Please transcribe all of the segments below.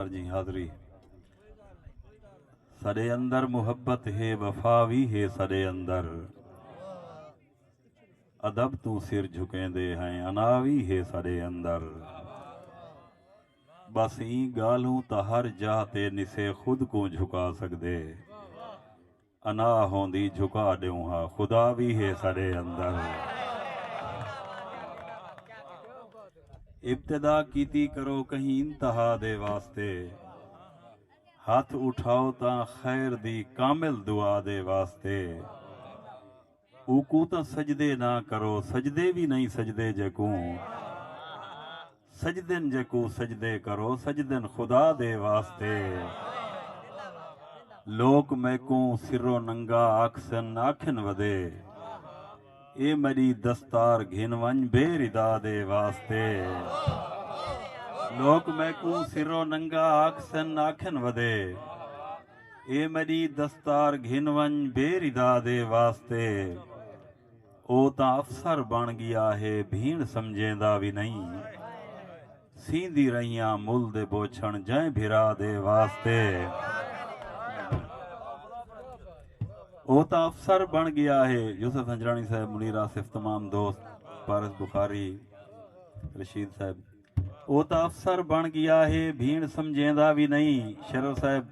جی حاضری سڈے اندر محبت ہے وفا وی ہے سڈے اندر ادب توں سر جھکیندے ہیں انا وی ہے سڈے اندر بس ایں گالھوں تا ہر جاہ تے نسے خود کوں جھکا سکدے انا ہوندی جھکا ڈیوں ہا خدا وی ہے ساڈے اندر۔ ابتدا کیتی کرو کہیں انتہا دے واسطے ہتھ اٹھاؤ تاں خیر دی کامل دعا دے واسطے۔ اوکوں تاں سجدے نہ کرو سجدے وی نئیں سجدے جیکوں سجدن جیکوں سجدے کرو سجدن خدا دے واسطے لوک میکوں سرو ننگا آکھسن آکھن ودے اے میڈی دستار گھن ونج بے ردا دے واسطے لوک میکوں سرو ننگا آکھسن آکھن ودے۔ اے میݙی دستار گھن ونڄ بے ردا دے واسطے او تاں افسر بݨ ڳیا ہے بھیݨ سمجھیندا وی نئیں سیندی رہیاں مل دے بوچھݨ جئیں بھرا دے واسطے او تاں افسر بݨ ڳیا ہے یوسف ہنجراݨی صاحب منیر آصف تمام دوست پارس بخاری رشید صاحب او تاں افسر بݨ ڳیا ہے بھیݨ سمجھیندا وی نئیں شرر صاحب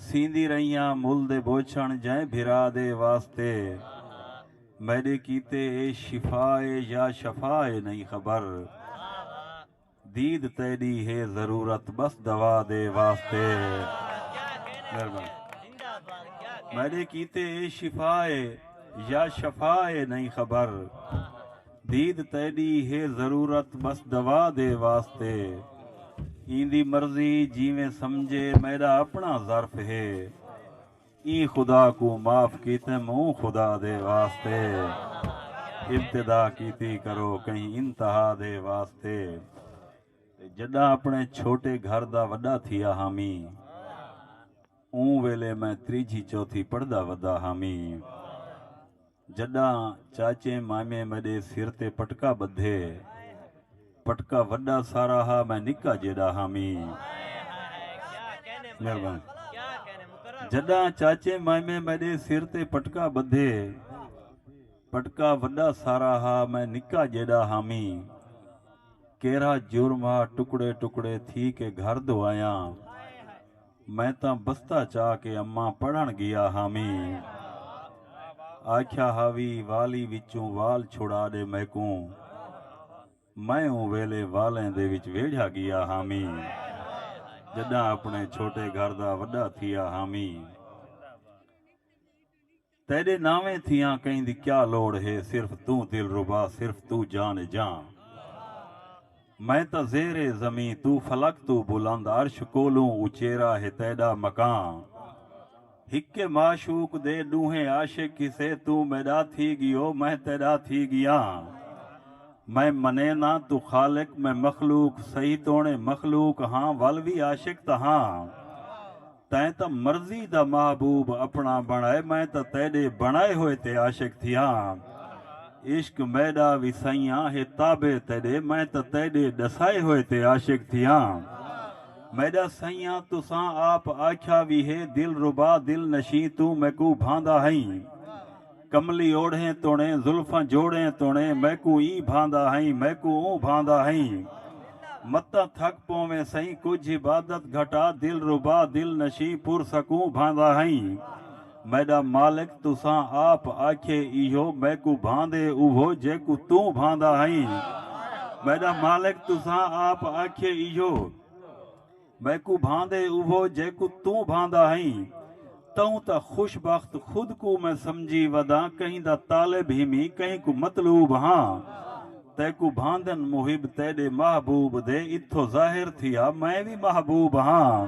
سیندی رہیاں مل دے بوچھݨ جئیں بھرا دے واسطے میݙے کیتے اے شفا اے یا شفا اے نئیں خبر دید تیݙی ہے ضرورت بس دوا دے واسطے مہربانی میڈے کیتے اے شفا اے یا شفا اے نہیں خبر دید تیݙی ہے ضرورت ٻس دوا دے واسطے ایندی مرضی جیویں سمجھے میݙا اپݨا ظرف ہے ایں خدا کوں معاف کیتم اوں خدا دے واسطے ابتدا کیتی کرو کہیں انتہا دے واسطے تے جݙاں اپݨے چھوٹے گھر دا وݙا تھیا ہامیں اوں ویلے میں تریجھی چوتھی پڑھدا ودا ہامیں جݙاں چاچیں مامیں میݙے سر تے پٹکا ٻدھے۔ پٹکا وݙا سارا ہا میں نکا جیݙا ہامی۔ جݙاں چاچیں مامیں میݙے سر تے پٹکا ٻدھے۔ پٹکا وݙا سارا ہا میں نکا جیݙا ہامی۔ کیرھا جرم ہا ٹکڑے ٹکڑے تھی کے گھر دو آیاں۔ میں تاں بستہ چا کے اماں پڑھݨ ڳیا ہامیں۔ آکھیا ہا وی والی وچوں وال چھڑا ݙے میکوں۔ میں اوں ویلے والیں دے وچ ویڑھیا ڳیا ہامیں۔ جݙاں اپݨے چھوٹے گھر دا وݙا تھیا ہامیں۔ تیݙے ناویں تھیاں کہیں دی کیا لوڑ ہے صرف توں دلربا صرف توں جان جاں میں تاں زیر زمیں توں فلک توں بلند عرش کولوں اچیرا ہے تیݙا مکاں ہکے معشوق دے ݙوہیں عاشق کسے توں میݙا تھی ڳیو میں تیݙا تھی ڳیاں میں منینداں توں خالق میں مخلوق سہی توݨے مخلوق ہاں ول وی عاشق تاں ہاں تیں تاں مرضی دا محبوب اپݨا بݨائے میں تاں تیݙے بݨائے ہوئے تے عاشق تھیا ہاں عشق میݙا وی سئیاں ہے تابع تیݙے میں تاں تیݙے ݙسائے ہوئے تے عاشق تھیا ہاں میݙا سئیاں تساں آپ آکھیا وی ہے دلربا دل نشیں توں میکوں بھاندا ہئیں کملی اوڑھیں توڑیں زلفاں جوڑیں توڑیں میکوں ای بھاندا ہئیں میکوں اوں بھاندا ہئیں متاں تھک پوویں سئیں کجھ عبادت گھٹا دلربا دل نشیں پر سکوں بھاندا ہئیں میڈا مالک تساں آپ آکھئے ایہو میکوں بھاندے اوہو جیکوں توں بھاندا ہئیں میڈا مالک تساں آپ آکھئے ایہو۔ میکوں بھاندے اوہو جیکوں توں بھاندا ہئیں۔ تہوں تاں خوش بخت خود کوں میں سمجھی وداں کہیں دا طالب ہیمی کہیں کوں مطلوب ہاں۔ تیکوں بھاندن محب تیڈے محبوب دے اتھو ظاہر تھیا میں وی محبوب ہاں۔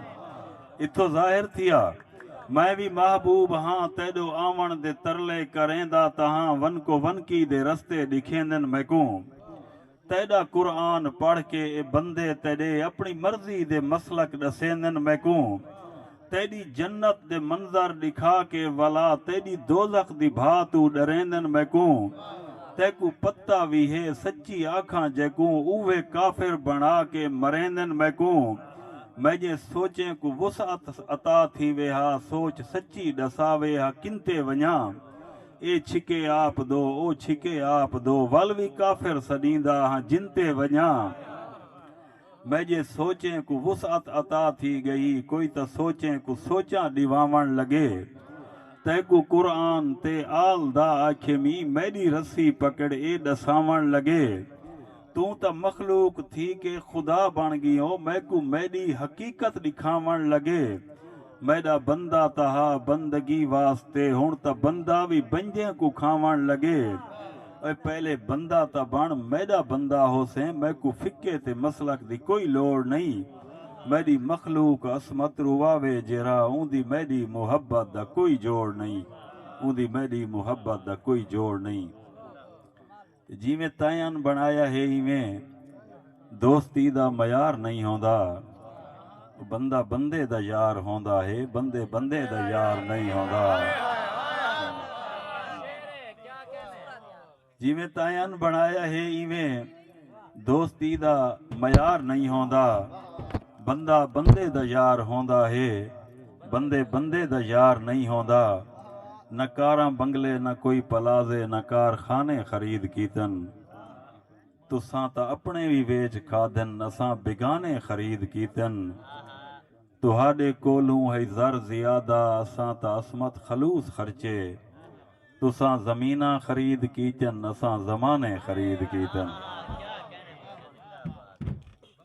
اتھو ظاہر تھیا میں وی محبوب ہاں تیڈو آون دے ترلے کریندا تہاں ونکو ونکی دے رستے ڈکھیندن میکوں۔ تیݙا قرآن پڑھ کے اے بندے تیݙے اپݨی مرضی دے مسلک ݙسیندن میکوں تیݙی جنت دے منظر ݙکھا کے ولا تیݙی دوزخ دی بھا توں ݙریندن میکوں تیکوں پتہ وی ہے سچی آکھاں جیکوں اوہے کافر بݨا کے مریندن میکوں میݙیں سوچیں کوں وسعت عطا تھیوے ہا سوچ سچی ݙساوے ہا کنتے ونڄاں اے چھکے آپ دو او چھکے آپ دو ول وی کافر سݙیندا ہاں جنتے ونڄاں میڄے سوچیں کوں وسعت عطا تھی ڳئی کوئی تاں سوچیں کوں سوچاں ݙیواوݨ لڳے تیکوں قرآن تے آل دا آکھیمی میݙی رسی پکڑ اے ݙساوݨ لڳے توں تاں مخلوق تھی کے خدا بݨ ڳیو میکوں میݙی حقیقت ݙکھاوݨ لڳے میݙا بندہ تہا بندگی واسطے ہݨ تاں بندہ وی بنجیں کوں کھاوݨ لڳے اوئے پہلے بندہ تاں بݨ میݙا بندہ ہوسیں میکوں فقہ تے مسلک دی کوئی لوڑ نئیں میݙی مخلوق عصمت رواوے جیرھا اوندی میݙی محبت دا کوئی جوڑ نئیں اوندی میݙی محبت دا کوئی جوڑ نئیں۔ تے جیویں تیں ان بنڑایا ہے ایویں دوستی دا معیار نئیں ہوندا او بندہ بندے دا یار ہوندا ہے بندے بندے دا یار نئیں ہوندا۔ جیویں تیں ان بنڑایا ہے ایویں دوستی دا معیار نئیں ہوندا۔ بندہ بندے دا یار ہوندا ہے بندے بندے دا یار نئیں ہوندا نہ کاراں بنگلے نہ کوئی پلازے نہ کار خانے خرید کیتن تساں تاں اپنے وی ویچ کھادن اساں بیگانے خرید کیتن تہاڈے کولھوں ہئی زر زیادہ اساں تاں عصمت خلوص خرچے تساں زمیناں خرید کیتن اساں زمانے خرید کیتن۔